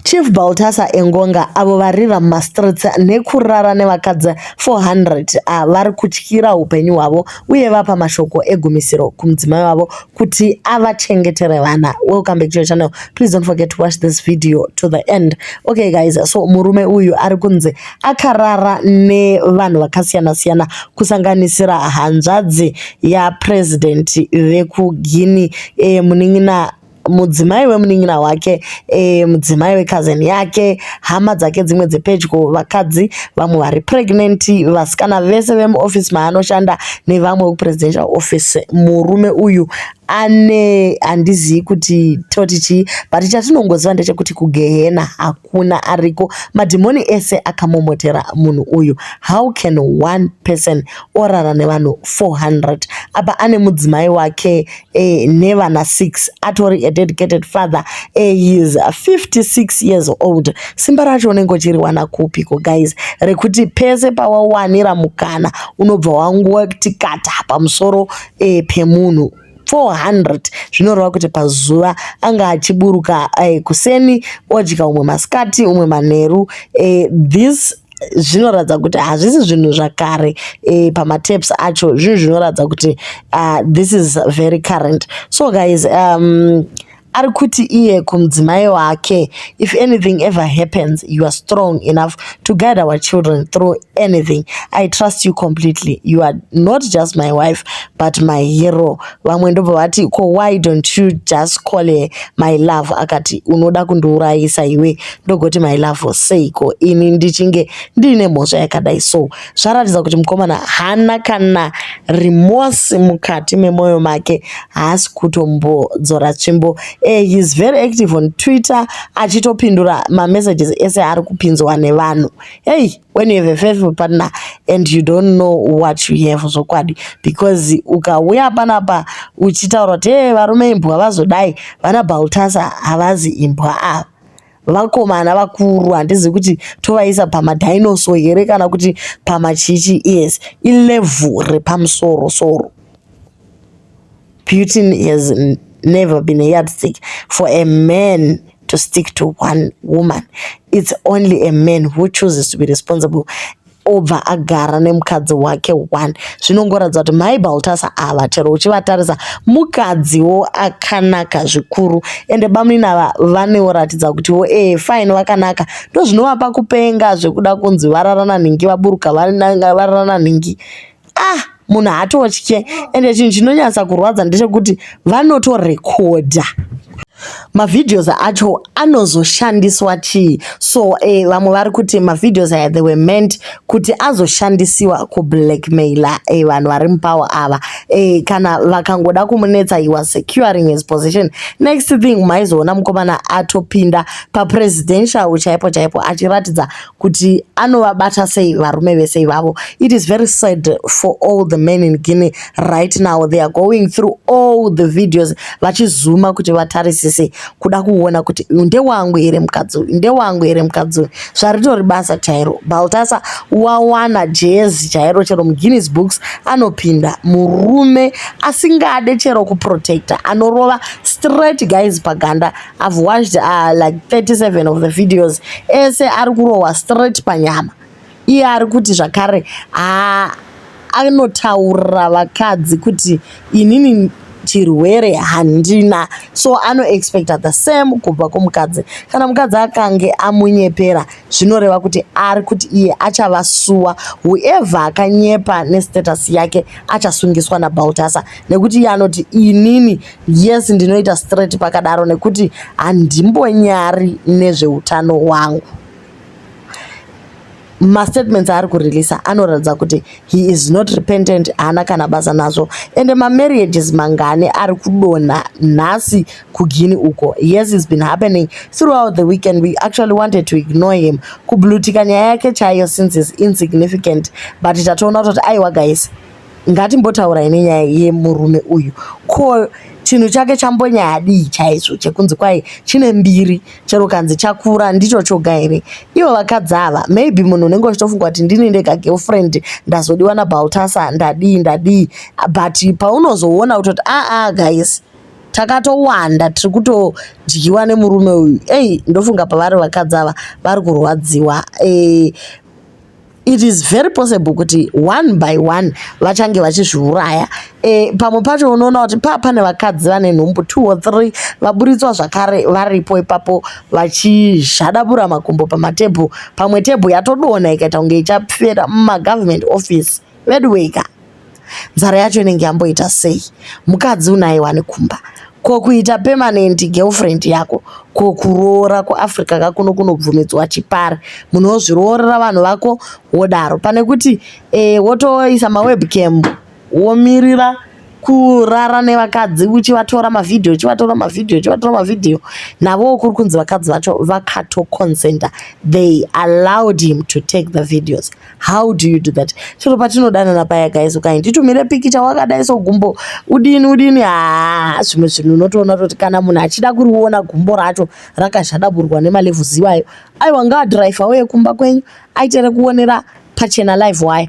Chief Baltasar Engonga, avo vari vamastreets nekurara nevakadzi 400 a vari kutyira upenyu hwavo uye vapa mashoko egumisiro kumudzimai wavo kuti avachengetere vana. Welcome back to your channel. Please don't forget to watch this video to the end. Okay guys, so murume uyu ari kunzi akarara nevanhu vakasiyana siyana kusanganisira hanzvadzi yapresident vekuGuinea eh, munin'ina mudzimai wemunin'ina wake e, mudzimai wecousin yake hama dzake dzimwe dzepedyo vakadzi vamwe vari pregnant vasikana vese vemuoffice maanoshanda nevamwe wekupresidential office murume uyu ane handizivi kuti toti chii but chatinongoziva ndechekuti kugehena hakuna ariko madhimoni ese akamomotera munhu uyu how can one person orara nevanhu 400 apa ane mudzimai wake eh, nevana 6 atori a dedicated father eh, he is 56 years old simba racho unenge uchiriwana kupi ko guys rekuti pese pawawanira mukana unobva wanguva kuti kata pamusoro eh, pemunhu 400 zvinoreva kuti pazuva anga achiburuka eh, kuseni odya umwe masikati umwe manheru eh, this zvinoratidza kuti hazvisi zvinhu zvakare e, pamataps acho zvinhu zvinoratidza kuti uh, this is very current so guys um, ari kuti iye kumudzimai wake if anything ever happens you are strong enough to guide our children through anything i trust you completely you are not just my wife but my hero vamwe ndobva vati ko why don't you just call her my love akati unoda kundiurayisa iwe ndogoti my love seiko ini ndichinge ndiine mhosva yakadai so zvaratidza kuti mukomana hana kana remorse mukati memwoyo make haasi kutombodzora tsvimbo uh, eh, heis very active on twitter achitopindura mamessages ese ari kupinzwa nevanhu hei hey. when you have a faithful partner and you don't know what you have zvokwadi because ukauya panapa uchitaura kuti e varume imbwa vazodai vana baltasa havazi imbwa ava vakomana vakuru handizivi kuti tovaisa pamadinoso here kana kuti pamachichi yes ilevel repamusoro soro Putin has never been a yardstick for a man to stick to one woman. It's only a man who chooses to be responsible obva agara nemukadzi wake one zvinongoratidza kuti mai baltasa ava chero uchivatarisa mukadziwo akanaka zvikuru ende bamunini ava vanoratidza kutiwo ee eh, fine vakanaka ndozvinovapa kupenga zvekuda kunzi vararana nhingi vaburuka vararana nhingi ah munhu haatotye ende chinhu chinonyatsa kurwadza ndechekuti vanotorekodha mavideos acho anozoshandiswa chii so eh, vamwe vari kuti mavideos aya they were meant kuti azoshandisiwa kublackmailer eh, vanhu vari mupower ava eh, kana vakangoda kumunetsa he was securing his position next thing maizoona mukomana atopinda papresidential chaipo chaipo achiratidza kuti anovabata sei varume vese ivavo it is very sad for all the men in guinea right now they are going through all the videos vachizuma kuti vatarisise kuda kuona kuti ndewangu here mukadzi uyu ndewangu here mukadzi uyu zvaritori basa chairo baltasa wawana jezi chairo chero muguinness books anopinda murume asingade chero kuprotecta anorova straight guys paganda I've watched uh, like 37 of the videos ese ari kurohwa straight panyama iye ari kuti zvakare ah, anotaurira vakadzi kuti inini chirwere handina so anoexpecta the same kubva kumukadzi kana mukadzi akange amunyepera zvinoreva kuti ari kuti iye achavasuwa whoever akanyepa nestatus yake achasungiswa nabaltasa nekuti iye anoti inini yes ndinoita straight pakadaro nekuti handimbonyari nezveutano hwangu mastatements aari kureleasa anoratidza kuti he is not repentant haana kana basa nazvo ende mamarriages mangani ari kudonha nhasi kugini uko yes is been happening throughout the weekend we actually wanted to ignore him kublutika nyaya yake chaiyo since is insignificant but tatoona kutoti aiwa guys Ngatimbotaurai nenyaya yemurume uyu ko chinhu chake chambonyadii chaizvo chekunzi kwai chine mbiri chero kanzi chakura ndicho choga here ivo vakadzi ava maybe munhu unenge uchitofunga kuti ndini ndega girlfriend ndazodiwa nabaltasa ndadii ndadii but paunozoona kutoti aa ah, ah, guys takatowanda tiri kutodyiwa nemurume uyu ei ndofunga pavari vakadzi ava vari kurwadziwa eh, it is very possible kuti one by one vachange vachizviuraya e, pamwe pacho unoona kuti paa pane vakadzi vane nhumbu two or three vaburitswa zvakare varipo ipapo vachizhadabura makumbo pamatebhu pamwe tebhu yatodona ikaita kunge ichapfera mumagovernment office veduweika nzara yacho inenge yamboita sei mukadzi unaye wani kumba ko kuita permanent girlfriend yako ko kuroora kuafrica ka kuno kunobvumidzwa chipari munhu wozviroorera vanhu vako wodaro pane kuti eh, wotoisa mawebcam womirira kurara nevakadzi uchivatora mavhidhiyo uchivatora mavhidhiyo uchivatora mavhidhiyo navowo kuri kunzi vakadzi vacho vakatoconsenta they allowed him to take the videos how do you do that chero patinodanana paya guys ukai nditumire pikicha wakadai so gumbo udini udini haa ah, zvimwe zvinhu unotoona toti kana munhu achida kuriona gumbo racho rakazhadaburwa nemalevhuzi iwayo aiwa ngaadhiraivha uye kumba kwenyu aitere kuonera pachena live waya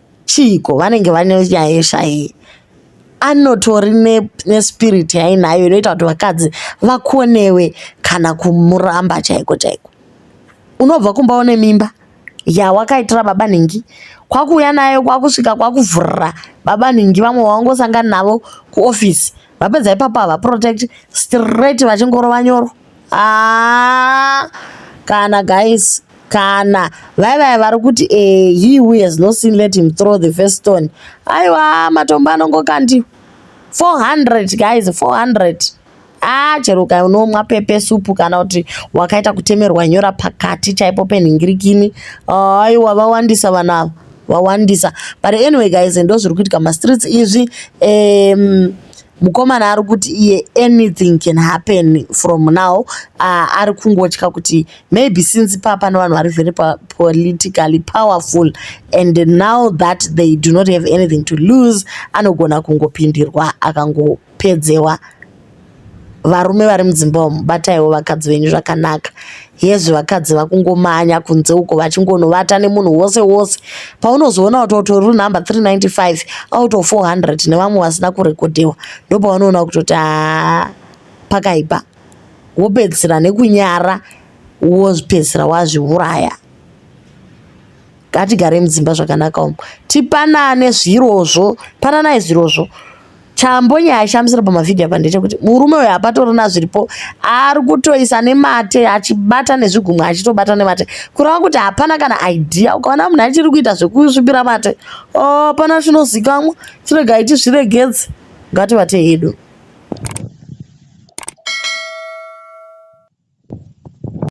chiiko vanenge vane nyaya yeshayi anotori nespirit yainayo inoita kuti vakadzi vakonewe kana kumuramba chaiko chaiko unobva kumba une mimba yawakaitira baba nhingi kwakuuya nayo kwakusvika kwakuvhurira baba nhingi vamwe wangosangana navo kuofisi vapedza ipapo havaprotect straight vachingorova nyoro Ah, kana guys kana vai vaya vari kuti eh, he who has no sin let him throw the first stone aiwa matombo anongokandi 400 guys 400 ah chero ukanomwa pepe supu kana kuti wakaita kutemerwa nyora pakati chaipo penhingirikini aiwa vawandisa vanhu ava vawandisa but anyway guys ndo zviri kuitika mastreets izvi um, Mukomana ari kuti iye anything can happen from now uh, ari kungotya kuti maybe since paa pane vanhu vari very politically powerful and now that they do not have anything to lose anogona kungopindirwa akangopedzewa varume vari mudzimba umu bataiwo vakadzi venyu zvakanaka Hezvi vakadzi vakungomanya kunze uko vachingonovata nemunhu wose wose. Paunozoona kuti utori runumber 395 out of 400 nevamwe vasina kurekodhewa ndopaunoona kutoti haa pakaipa. Wopedzisira nekunyara wozvipedzisira wazviuraya. Ngatigare mudzimba zvakanaka umu. Tipanane zvirozvo, pananai zvirozvo. chambonye aishamisira pamavhidhiyo apa ndechekuti murume uyo hapatorina zviripo ari kutoisa nemate achibata nezvigumwe achitobata nemate kureva kuti hapana kana idea ukaona munhu achiri kuita zvekusvipira mate oh, pana chinozikamwa chirega iti zviregedze ngativate hedu